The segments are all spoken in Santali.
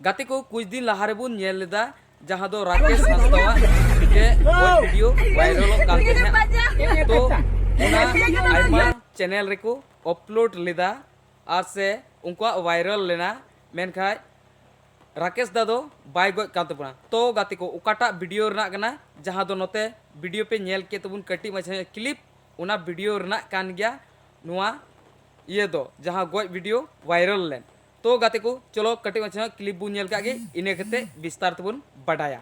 ᱜᱟᱛᱮ ᱠᱚ ᱠᱩᱪ ᱫᱤᱱ ᱞᱟᱦᱟ ᱨᱮᱵᱚᱱ ᱧᱮᱞ ᱞᱮᱫᱟ ᱡᱟᱦᱟᱸ ᱫᱚ ᱨᱟᱠᱮᱥ ᱦᱟᱸᱥᱫᱟᱣᱟᱜ ᱢᱤᱫᱴᱮᱡ ᱜᱚᱡ ᱵᱷᱤᱰᱤᱭᱳ ᱵᱷᱟᱭᱨᱟᱞᱚᱜ ᱠᱟᱱ ᱛᱟᱦᱮᱸᱫ ᱛᱚ ᱚᱱᱟ ᱟᱭᱢᱟ ᱪᱮᱱᱮᱞ ᱨᱮᱠᱚ ᱚᱯᱞᱳᱰ ᱞᱮᱫᱟ ᱟᱨ ᱥᱮ ᱩᱱᱠᱩᱣᱟᱜ ᱵᱷᱟᱭᱨᱟᱞ ᱞᱮᱱᱟ ᱢᱮᱱᱠᱷᱟᱡ ᱨᱟᱠᱮᱥ ᱫᱟ ᱫᱚ ᱵᱟᱭ ᱜᱚᱡ ᱠᱟᱱ ᱛᱟᱵᱚᱱᱟ ᱛᱚ ᱜᱟᱛᱮ ᱠᱚ ᱚᱠᱟᱴᱟᱜ ᱵᱷᱤᱰᱤᱭᱳ ᱨᱮᱱᱟᱜ ᱠᱟᱱᱟ ᱡᱟᱦᱟᱸ ᱫᱚ ᱱᱚᱛᱮ ᱵᱷᱤᱰᱤᱭᱳ ᱯᱮ ᱧᱮᱞ ᱠᱮᱫ ᱛᱟᱵᱚᱱ ᱠᱟᱹᱴᱤᱡ ᱢᱟᱪᱷᱟ ᱧᱚᱜ ᱠᱞᱤᱯ ᱚᱱᱟ ᱵᱷᱤᱰᱤᱭᱳ ᱨᱮᱱᱟᱜ ᱠᱟᱱ ᱜᱮᱭᱟ ᱱᱚᱣᱟ ᱤᱭᱟᱹ ᱫᱚ ᱡᱟᱦᱟᱸ ᱜᱚᱡ ᱵᱷᱤᱰᱤᱭᱳ ᱵᱷᱟᱭᱨᱟᱞ ᱞᱮᱱ ᱛᱚ ᱜᱟᱛᱮ ᱠᱚ ᱪᱚᱞᱚ ᱠᱟᱹᱴᱤᱡ ᱢᱟᱪᱷᱟ ᱧᱚᱜ ᱠᱞᱤᱯ ᱵᱚᱱ ᱧᱮᱞ ᱠᱟᱜ ᱜᱮ ᱤᱱᱟᱹ ᱠᱟᱛᱮ ᱵᱤᱥᱛᱟᱨ ᱛᱮᱵᱚᱱ ᱵᱟᱰᱟᱭᱟ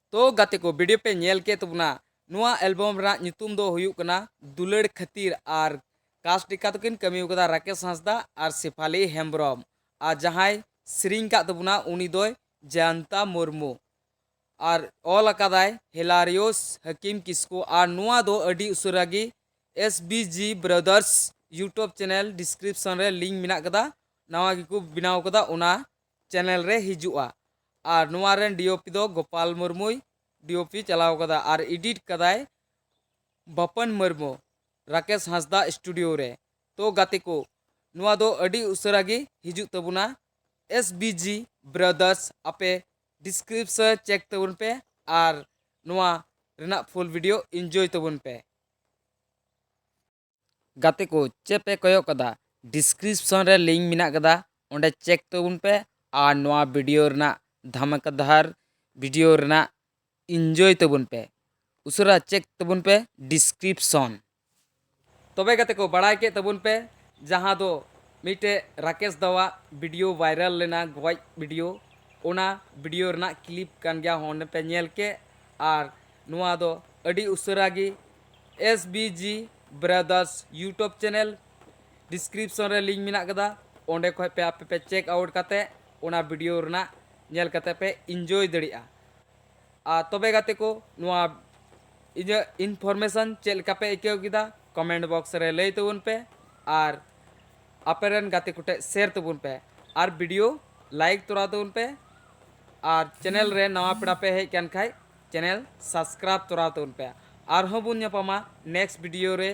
ᱛᱚ ᱜᱟᱛᱮ ᱠᱚ ᱵᱷᱤᱰᱤᱭᱳ ᱯᱮ ᱧᱮᱞ ᱠᱮᱫ ᱛᱟᱵᱚᱱᱟ ᱱᱚᱣᱟ ᱮᱞᱵᱚᱢ ᱨᱮᱱᱟᱜ ᱧᱩᱛᱩᱢ ᱫᱚ ᱦᱩᱭᱩᱜ ᱠᱟᱱᱟ ᱫᱩᱞᱟᱹᱲ ᱠᱷᱟᱹᱛᱤᱨ ᱟᱨ ᱠᱟᱥᱴ ᱞᱮᱠᱟ ᱫᱚᱠᱤᱱ ᱠᱟᱹᱢᱤ ᱟᱠᱟᱫᱟ ᱨᱟᱠᱮᱥ ᱦᱟᱸᱥᱫᱟ ᱟᱨ ᱥᱮᱯᱷᱟᱞᱤ ᱦᱮᱢᱵᱽᱨᱚᱢ ᱟᱨ ᱡᱟᱦᱟᱸᱭ ᱥᱮᱨᱮᱧ ᱟᱠᱟᱫ ᱛᱟᱵᱚᱱᱟ ᱩᱱᱤ ᱫᱚᱭ ᱡᱚᱭᱚᱱᱛᱟ ᱢᱩᱨᱢᱩ ᱟᱨ ᱚᱞ ᱟᱠᱟᱫᱟᱭ ᱦᱮᱞᱟᱨᱤᱭᱳᱥ ᱦᱟᱠᱤᱢ ᱠᱤᱥᱠᱩ ᱟᱨ ᱱᱚᱣᱟ ᱫᱚ ᱟᱹᱰᱤ ᱩᱥᱟᱹᱨᱟ ᱜᱮ S B G brothers YouTube channel description ᱨᱮ ᱞᱤᱝᱠ ᱢᱮᱱᱟᱜ ᱟᱠᱟᱫᱟ ᱱᱟᱣᱟ ᱜᱮᱠᱚ ᱵᱮᱱᱟᱣ ᱟᱠᱟᱫᱟ ᱚᱱᱟ ᱪᱮᱱᱮᱞ ᱨᱮ ᱦᱤᱡᱩᱜᱼᱟ ᱟᱨ ᱱᱚᱣᱟ ᱨᱮᱱ ᱰᱤᱳᱯᱤ ᱫᱚ ᱜᱳᱯᱟᱞ ᱢᱩᱨᱢᱩᱭ ᱰᱤᱳᱯᱤ ᱪᱟᱞᱟᱣ ᱟᱠᱟᱫᱟ ᱟᱨ ᱮᱰᱤᱴ ᱟᱠᱟᱫᱟᱭ ᱵᱟᱯᱟᱱ ᱢᱩᱨᱢᱩ ᱨᱟᱠᱮᱥ ᱦᱟᱸᱥᱫᱟ ᱥᱴᱩᱰᱤᱭᱳ ᱨᱮ᱾ ᱛᱚ ᱜᱟᱛᱮ ᱠᱚ ᱱᱚᱣᱟ ᱫᱚ ᱟᱹᱰᱤ ᱩᱥᱟᱹᱨᱟ ᱜᱮ ᱦᱤᱡᱩᱜ ᱛᱟᱵᱚᱱᱟ ᱮᱥ ᱵᱤ ᱡᱤ ᱵᱨᱚᱫᱟᱨᱥ ᱟᱯᱮ ᱰᱤᱥᱠᱨᱤᱯᱥᱚ ᱪᱮᱠ ᱛᱟᱵᱚᱱ ᱯᱮ ᱟᱨ ᱱᱚᱣᱟ ᱨᱮᱱᱟᱜ ᱯᱷᱩᱞ ᱵᱷᱤᱰᱤᱭᱳ ᱤᱱᱡᱚᱭ ᱛᱟᱵᱚᱱ ᱯᱮ᱾ ᱜᱟᱛᱮ ᱠᱚ ᱪᱮᱫ ᱯᱮ ᱠᱚᱭᱚᱜ ᱠᱟᱫᱟ ᱰᱤᱥᱠᱨᱤᱯᱥᱚᱱ ᱨᱮ ᱞᱤᱝᱠ ᱢᱮᱱᱟᱜ ᱠᱟᱫᱟ ᱚᱸᱰᱮ ᱪᱮᱠ ᱛᱟᱵᱚᱱ ᱯᱮ ᱟᱨ ᱱᱚᱣᱟ ᱵᱷᱤᱰᱤᱭᱳ ᱨᱮᱱᱟᱜ ᱫᱷᱟᱢᱟᱠᱟᱫᱷᱟᱨ ᱵᱷᱤᱰᱤᱭᱳ ᱨᱮᱱᱟᱜ ᱤᱱᱡᱚᱭ ᱛᱟᱵᱚᱱ ᱯᱮ ᱩᱥᱟᱹᱨᱟ ᱪᱮᱠ ᱛᱟᱵᱚᱱ ᱯᱮ ᱰᱤᱥᱠᱨᱤᱯᱥᱚᱱ ᱛᱚᱵᱮ ᱜᱟᱛᱮ ᱠᱚ ᱵᱟᱲᱟᱭ ᱠᱮᱫ ᱛᱟᱵᱚᱱ ᱯᱮ ᱡᱟᱦᱟᱸ ᱫᱚ ᱢᱤᱫᱴᱮᱡ ᱨᱟᱠᱮᱥ ᱫᱟᱣᱟᱜ ᱵᱷᱤᱰᱤᱭᱳ ᱵᱷᱟᱭᱨᱟᱞ ᱞᱮᱱᱟ ᱜᱚᱡ ᱵᱷᱤᱰᱤᱭᱳ ᱚᱱᱟ ᱵᱷᱤᱰᱤᱭᱳ ᱨᱮᱱᱟᱜ ᱠᱞᱤᱯ ᱠᱟᱱ ᱜᱮᱭᱟ ᱚᱸᱰᱮ ᱯᱮ ᱧᱮᱞ ᱠᱮᱫ ᱟᱨ ᱱᱚᱣᱟ ᱫᱚ ᱟᱹᱰᱤ ᱩᱥᱟᱹᱨᱟ ᱜᱮ S B G brothers YouTube channel description ᱨᱮ ᱞᱤᱝᱠ ᱢᱮᱱᱟᱜ ᱟᱠᱟᱫᱟ ᱚᱸᱰᱮ ᱠᱷᱚᱡ ᱯᱮ ᱟᱯᱮ ᱯᱮ ᱪᱮᱠ ᱟᱣᱩᱴ ᱠᱟᱛᱮ ᱚᱱᱟ ᱵᱷᱤᱰᱤᱭᱳ ᱨᱮᱱᱟᱜ ᱧᱮᱞ ᱠᱟᱛᱮ ᱯᱮ ᱤᱱᱡᱚᱭ ᱫᱟᱲᱮᱭᱟᱜᱼᱟ ᱟᱨ ᱛᱚᱵᱮ ᱜᱟᱛᱮ ᱠᱚ ᱱᱚᱣᱟ ᱤᱧᱟᱹᱜ ᱤᱱᱯᱷᱚᱨᱢᱮᱥᱚᱱ ᱪᱮᱫ ᱞᱮᱠᱟ ᱯᱮ ᱟᱹᱭᱠᱟᱹᱣ ᱠᱮᱫᱟ ᱠᱚᱢᱮᱱᱴ ᱵᱚᱠᱥ ᱨᱮ ᱞᱟᱹᱭ ᱛᱟᱵᱚᱱ ᱯᱮ ᱟᱨ ᱟᱯᱮ ᱨᱮᱱ ᱜᱟᱛᱮ ᱠᱚᱴᱷᱮᱡ ᱥᱮᱭᱟᱨ ᱛᱟᱵᱚᱱ ᱯᱮ ᱟᱨ ᱵᱷᱤᱰᱤᱭᱳ ᱞᱟᱭᱤᱠ ᱛᱚᱨᱟ ᱛᱟᱵᱚᱱ ᱯᱮ ᱟᱨ ᱪᱮᱱᱮᱞ ᱨᱮ ᱱᱟᱣᱟ ᱯᱮᱲᱟ ᱯᱮ ᱦᱮᱡ ᱠᱟᱱ ᱠᱷᱟᱡ ᱪᱮᱱᱮᱞ ᱥᱟᱥᱠᱨᱟᱵ ᱛᱚᱨᱟᱣ ᱛᱟᱵᱚᱱ ᱯᱮ ᱟᱨ ᱦᱚᱸ ᱵᱚᱱ ᱧᱟᱯᱟᱢᱟ ᱱᱮᱠᱥᱴ ᱵᱤᱰᱤᱭᱳ ᱨᱮ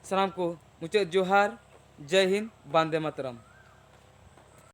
ᱥᱟᱱᱟᱢ ᱠᱚ ᱢᱩᱪᱟᱹᱫ ᱡᱚᱦᱟᱨ ᱡᱟᱭ ᱦᱤᱱᱫ ᱵᱟᱱᱫᱮ ᱢᱟᱛᱨᱟᱢ᱾